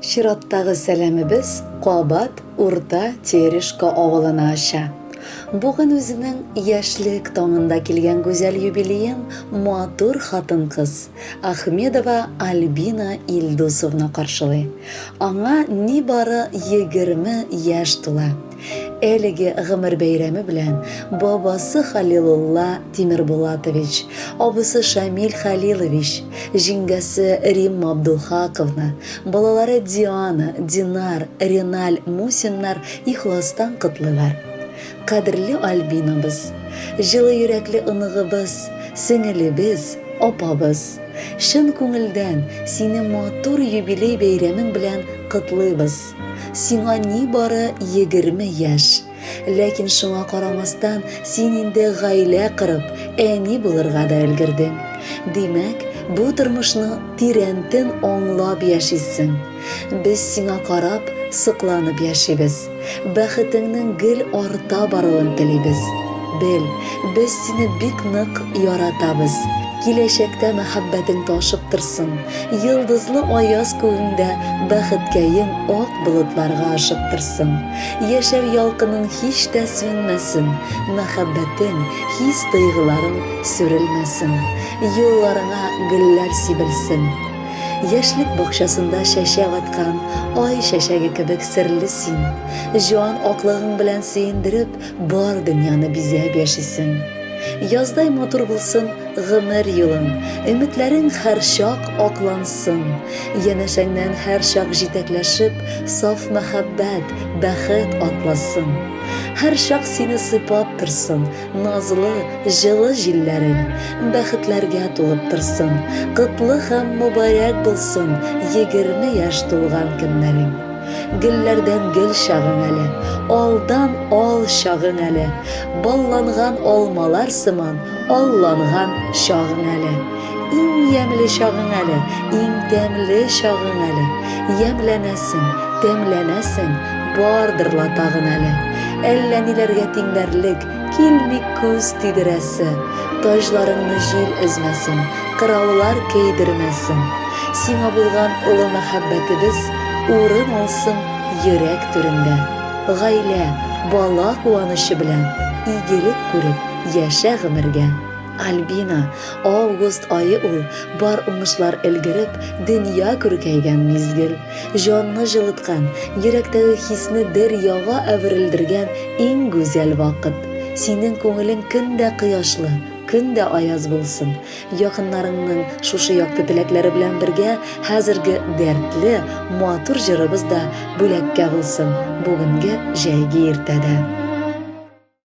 Чираттагы сәламебез Кабат Урта Терешко авылына ача. Бүген үзенең яшьлек таңында килгән гүзәл юбилеен матур хатын-кыз Ахмедова Альбина Илдусовна каршылый. Аңа нибары 20 яшь тула. Әлеге гомер бәйрәме белән бабасы Халилулла Тимербулатович, абысы Шамил Хәлилович, җиңгәсе Римма Абдулхаковна, балалары Диана, Динар, Реналь Мусиннар ихластан котлыйлар. Кадерле Альбинабыз! Җылы йөрәкле оныгыбыз, сеңелебез, апабыз! Чын күңелдән сине матур юбилей бәйрәмең белән котлыйбыз! Сиңа нибары егерме яшь. Ләкин шуңа карамастан, син инде гаилә корып, әни булырга да өлгердең. Димәк, бу тормышны тирәнтен аңлап яшисең. Без сиңа карап, сокланып яшибез. Бәхетеңнең гел арта баруын телибез. Бел, без сине бик нык яратабыз. Киләчәктә мәхәббәтең ташып торсын. Йылдызлы аяз күгеңдә бәхеткәем ак болытларга ашып торсын. Яшәү ялкының һич тә сүнмәсен, мәхәббәтең, хис-тойгыларың сүрелмәсен. Юлларыңа гөлләр сибелсен. Яшьлек бакчасында чәчәк аткан ай чәчәге кебек серле син. Җан аклыгың белән сөендереп, Бар дөньяны бизәп яшисең. Яздай матур булсын гомер юлың, Өметләрең һәрчак аклансын. Янәшәңнән һәрчак җитәкләшеп, Саф мәхәббәт, бәхет атласын. Һәрчак сине сыйпап торсын Назлы, җылы җилләрең. Бәхетләргә тулып торсын, Котлы һәм мөбарәк булсын Егерме яшь тулган көннәрең. Гөлләрдән гөл чагың әле, алдан ал чагың әле, балланган алмалар сыман алланган чагың әле. Иң ямьле чагың әле, иң тәмле чагың әле. Ямьләнәсең, тәмләнәсең, бардыр ла тагын әле. Әллә ниләргә тиңләрлек, Килми күз тидерәсе, Таҗларыңны җил өзмәсен, Кыраулар көйдермәсен. Сиңа булган олы мәхәббәтебез Урын алсын йөрәк түрендә. Гаилә, бала куанычы белән Игелек күреп, яшә гомергә. Альбина, август ае ул, Бар уңышлар өлгереп, Дөнья күркәйгән мизгел. Җанны җылыткан, йөрәктәге хисне бер яга әверелдергән иң гүзәл вакыт. Синең күңелең көн дә кояшлы, көн дә аяз булсын. Якыннарыңның шушы якты теләкләре белән бергә хәзерге дәртле, матур җырыбыз да бүләккә булсын бүгенге җәйге иртәдә.